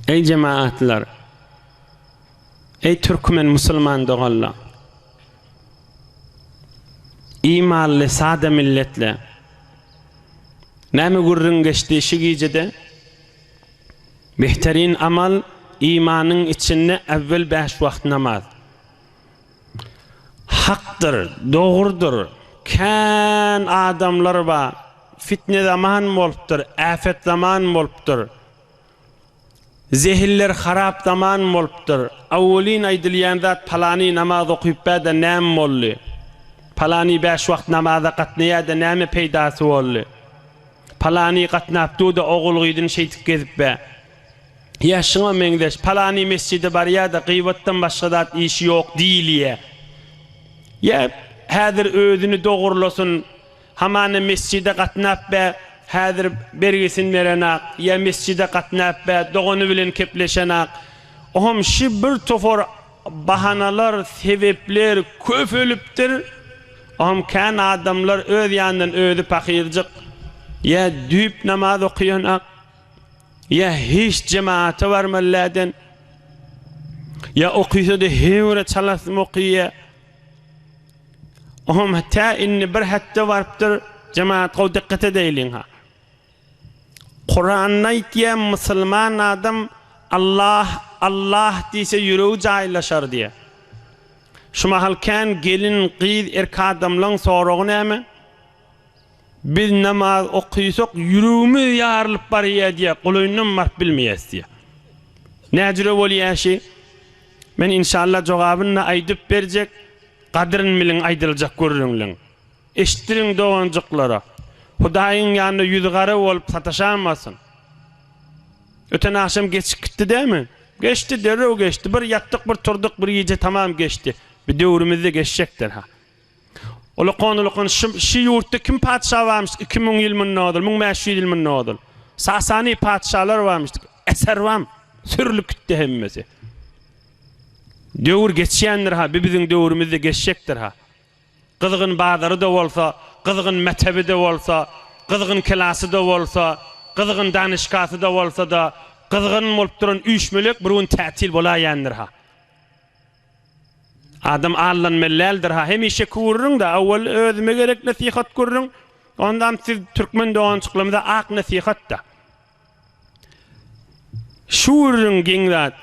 Eý jemaatlar! Eý türkmen musulman doganlar! Eý mally sada milletler! Näme gürrüň geçdi şu gijede? Behterin amal, imanyň içinde äwwel bäş wagt namaz. Hakdyr, dogrudyr, kän adamlar ba, fitne zaman bolupdyr, äpet zaman bolupdyr, zehiller harap zaman bolupdyr, awwelin aýdylýan zat palany namaz okypbä-de näm boldy, palany bäş wagt namaza gatnaýa-da näme peýdasy boldy, palany gatnapdu-da ogul-gyzyn şeýdip gezipbä. Ýa şuňa meňzeş, palany mesjide barýar-da, gybatdan başga zat işi ýok diýilýär. Ýa häzir özüni dogrulasyn, hamana mesjide gatnap bä, häzir bergisini berenok, ýa mesjide gatnap bä, dogany bilen kepleşenok. Oňam şi bir topar bahanalar, sebepler köpelipdir. Oňam kän adamlar öz ýanyndan özi pahyrjyk, ýa düýp namaz okaýanok. Ýa hiç jemaata barman läden. Ýa okysa-da heňire çalasym okýa. Oňam tä indi bir hepde barypdyr. Jemaat gowy dikkat edeýliň ha. Kuranda aýtýa musulman adam Allah Allah diýse ýüregi jaýlaşar diýe. Şu mahal kän gelin gyz erkadamlaň soragy näme? Biz namaz okysak ýüregimiz ýarylyp barýa diýýä golaýyndan baryp bilmeýäs diýýä. Näjüre bolýa şi? Men inşallah jogabynda aýdyp berjek gadyryn biliň aýdyljak gürrüňliň. Eşitdiriň doganjyklara. Hudaýyň ýanynda ýüzi gara bolup sataşamasyn. Öten agşam geçip gitdi dämi? Geçdi derrew geçdi. Bir ýatdyk bir turdyk bir gije tamam geçdi. Bir döwrümizde geçjekdir ha. Ulakan ulakan şy şy ýurtda kim patyşa barmyş iki müň ýyl münde ozal müň bäş ýüz ýyl münde ozal sasani patyşalar barmyş eser bam sürlüp gitdi hemmesi döwür geçýändir ha bi biziň döwrümizde geçjekdir ha gyzgyn bazary da bolsa gyzgyn metebi de bolsa gyzgyn kelasy da bolsa gyzgyn danyşkasy da bolsa da gyzgyn bolup duran üýşmelek bir gün tätil bolaýandyr ha. Adam aldanmaly däldir ha hemişe kürrüň da owal özüme gerek nesihat gürrüň ondan siz türkmen dogançyklarymyza ak nesihat da şürrüň geň zat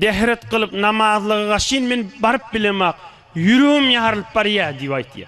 dehret gylyp namazlyga gaşyn men baryp bilemak ýüregim ýarylyp barýa diýip aýtýa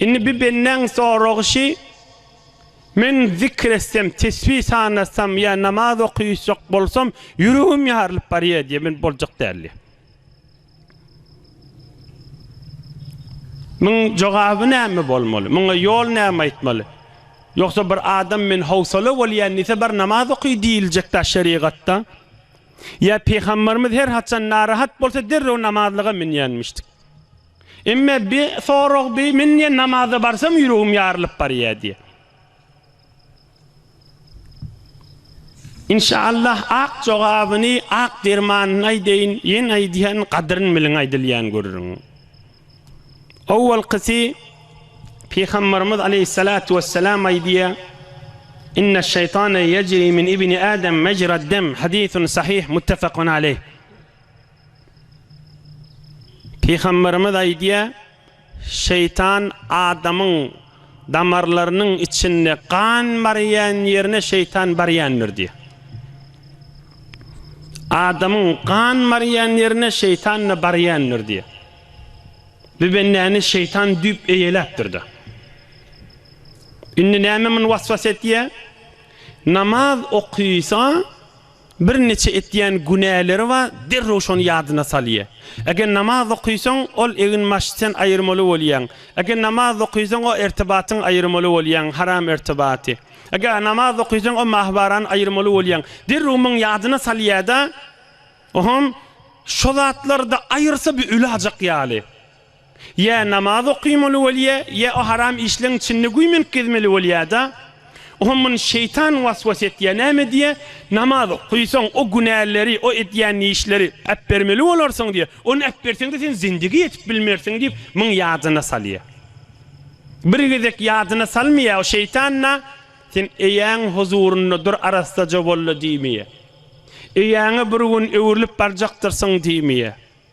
Indi bi bendäň soragşy, Men zikr etsem, tesbi sanatsam ýa namaz okyşjak bolsam, ýüregim ýarylyp barýar diýýär, men boljak däl diýýär. Muň jogaby näme bolmaly? Muňa ýol näme aýtmaly? Ýogsa bir adam men howsala bolýan diýse, bar namaz oky diýiljekdä şerigatda? Ýa Pygamberimiz her haçan narahat bolsa derrew namazlyga münýänmişdik. Emme bi sorag bi men diýen namaza barsam ýüregim ýarylyp barýa diýe. Inşallah ak jogabyny ak dermanyny aýdaýyn ýen aýdýan gadyryn biliň aýdylýan görüriň. Owalkysy Pygambarymyz aleýhissalatu wessalam aýdýa Inne şeýtane ýejri min ibni Adam mejra dem hadisun sahih muttafakun aleýh. Pygamberimiz aýdýar, Şeýtan adamyň damarlarynyň içinde gan barýan ýerine şeýtan barýandyr diýýär. Adamyň gan barýan ýerine şeýtan-da barýandyr diýýär. Bu bendäni şeýtan düýp eýeläpdir-de. Indi näme muny waswas etýär? Namaz okaýsa, Birnäçe etýän günäleri bar, derrew şony ýadyna salýar. Eger namaz okysaň, ol egin-maşy sen aýyrmaly bolýaň. Eger namaz okysaň, o ertibatyň aýyrmaly bolýaň, haram ertibaty. Eger namaz okysaň, o mahybarany aýyrmaly bolýaň. Derrew muny ýadyna salýar-da, Oho, şo zatlary-da aýyrsa, bu ölajek ýaly. Ýa namaz okymaly bolýa, ýa o haram işleň içinde güýmenip gezmeli bolýada. Oňa muny şeýtan waswas etýä, näme diýä, namaz okysaň, o günäleri, o edýän işleri äpbermeli bolarsyň diýä, ony äpberseň-de sen zindigi ýetip bilmersiň diýip muň ýadyna salýa. Bir gezek ýadyna salmaýa, o şeýtan-da, sen eýäň huzurynda dur arassaja bolla diýmeýä. Eýäňe bir gün öwrülip barjakdyrsyň diýmeýä.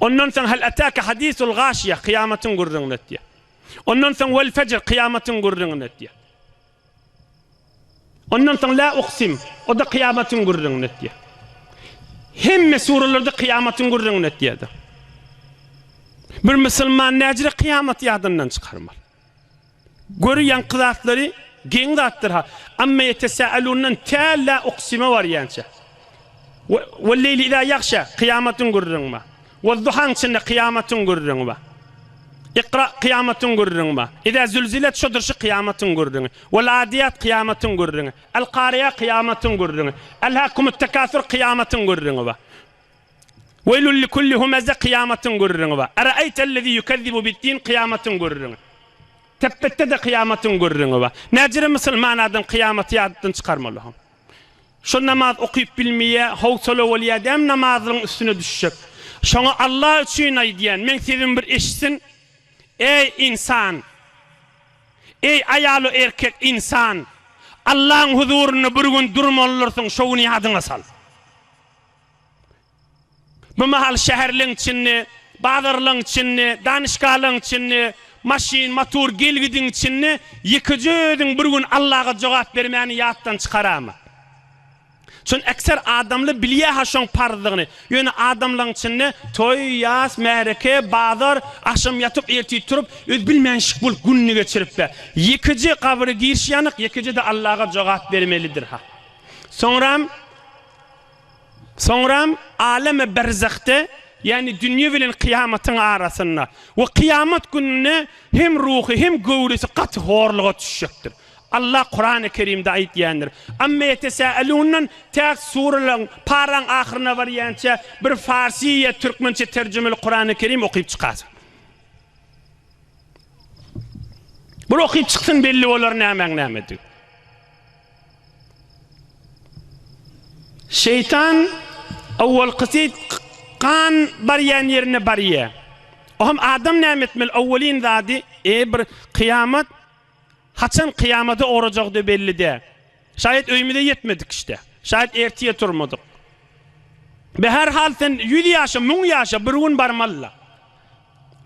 Ondan soň Hal ataka hadisul gaşiýe, kyýamatyň gürrüňini etýär. Ondan soň Vel fejr, kyýamatyň gürrüňini etýär. Ondan soň La uksim, o-da kyýamatyň gürrüňini etýär. Hemme suralarda kyýamatyň gürrüňini etýärdi. Bir musulman näjre kyýamaty ýadyndan çykarmaly. Gör ýaňky zatlary geň zatdyr ha. Amma ýetesälundan tä la uksime barýança. Wal leýli iza ýagşa kyýamatyň gürrüňi bar. Wal duhaň içinde kyýamatyň gürrüňi bar. Ikra kyýamatyň gürrüňi bar. Iza zulzilet şodur şu kyýamatyň gürrüňi. Wal adiýat kyýamatyň gürrüňi. Al kariýa kyýamatyň gürrüňi. Al hakumut tekasur kyýamatyň gürrüňi bar. Weýlül likulli humeze kyýamatyň gürrüňi bar. Araeýtellezî ýukezzibu biddin kyýamatyň gürrüňi. Tepbetde-de kyýamatyň gürrüňi bar. Näcirem musulman adam kyýamaty ýadatdan çykarmaly hom. Şo namaz okyp bilmeýä, howsala bolýa däm namazlyň üstüne düşjek. Şoňa Alla üçin aýdýan, meň sesimi bir eşitsin. Eý, ynsan! Eý, aýalu erkek, ynsan! Allaň huzurynda bir gün durmalydyrsyn, şo güni ýadyňa sal. Bu mahal şäherleň içinde, bazarlaň içinde, danyşgahalaň içinde, maşyn, motor gelgidiň içinde ýekeje özüň bir gün Allaga jogap bermäni ýatdan çykarama. Çün ekser adamly bilýä-ha şoň parzdygyny. Ýöne adamlaň içinde toý, ýas, märeke, bazar, agşam ýatyp, ertir turup, özi bilmänşik bolup gününi geçirip-ä, ýekeje gabry girişýänik, ýekeje-de Allaga jogap bermelidir-ha. Soňram. Soňram alemi berzahde, ýagny dünýe bilen kyýamatyň arasynda, we kyýamat gününde hem ruhy, hem göwresi gaty horluga düşjekdir. Allah Kurany Kerimde aýtýandyr, Amma ýetesälundan täk suralaryň, paraň ahyryna barýança bir farsy ýa türkmençe terjimeli Kurany Kerim okyp çykarsyň. Bir okyp çyksyn belli bolar nämäň näme digi. Şeýtan owalkysy gan barýan ýerine barýa. Oham adam näme etmeli owalyn zady eý bir kyýamat haçan kyýamada orajagyda belli dä. Şaýat öýmüze ýetmedik işte. Şaýat ertiýe turmadyk. Be her hal sen ýüz ýaşa müň ýaşa bir gün barmalyla.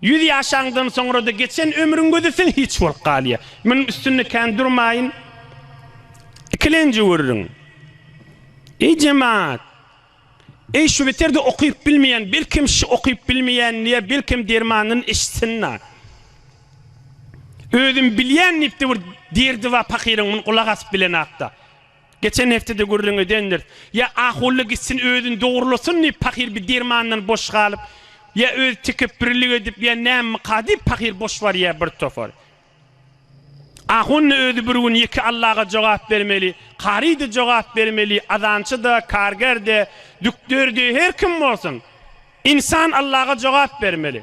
Ýüz ýaşaňdan soňra-da geçen ömrüň gözi siň hiç bolup galýar. Munuň üstünde kän durmaýyn. Ikilenji görüň. Eý jemaat! Eý şu beter-de okyp bilmeýän, belkem şu okyp bilmeýänliä belkem dermanyny eşitsin-la. Özüm bilýän diýip-de bir derdi bar pakyryň, muny gulak asyp bilenakda. Geçen hepdede gürrüň edendiris. Ýa ahully gitsin özüni dogrulasyn diýip pahyr bir dermandan boş galyp, ýa özi tekepbürlik edip, ýa nämmikaa diýip pahyr boş barýar bir topar. Ahun-da özi bir gün ýeke Allaga jogap bermeli, kary-da jogap bermeli, azançy-da, karger-de, dükder-de, her kim bolsun, ynsan Allaga jogap bermeli.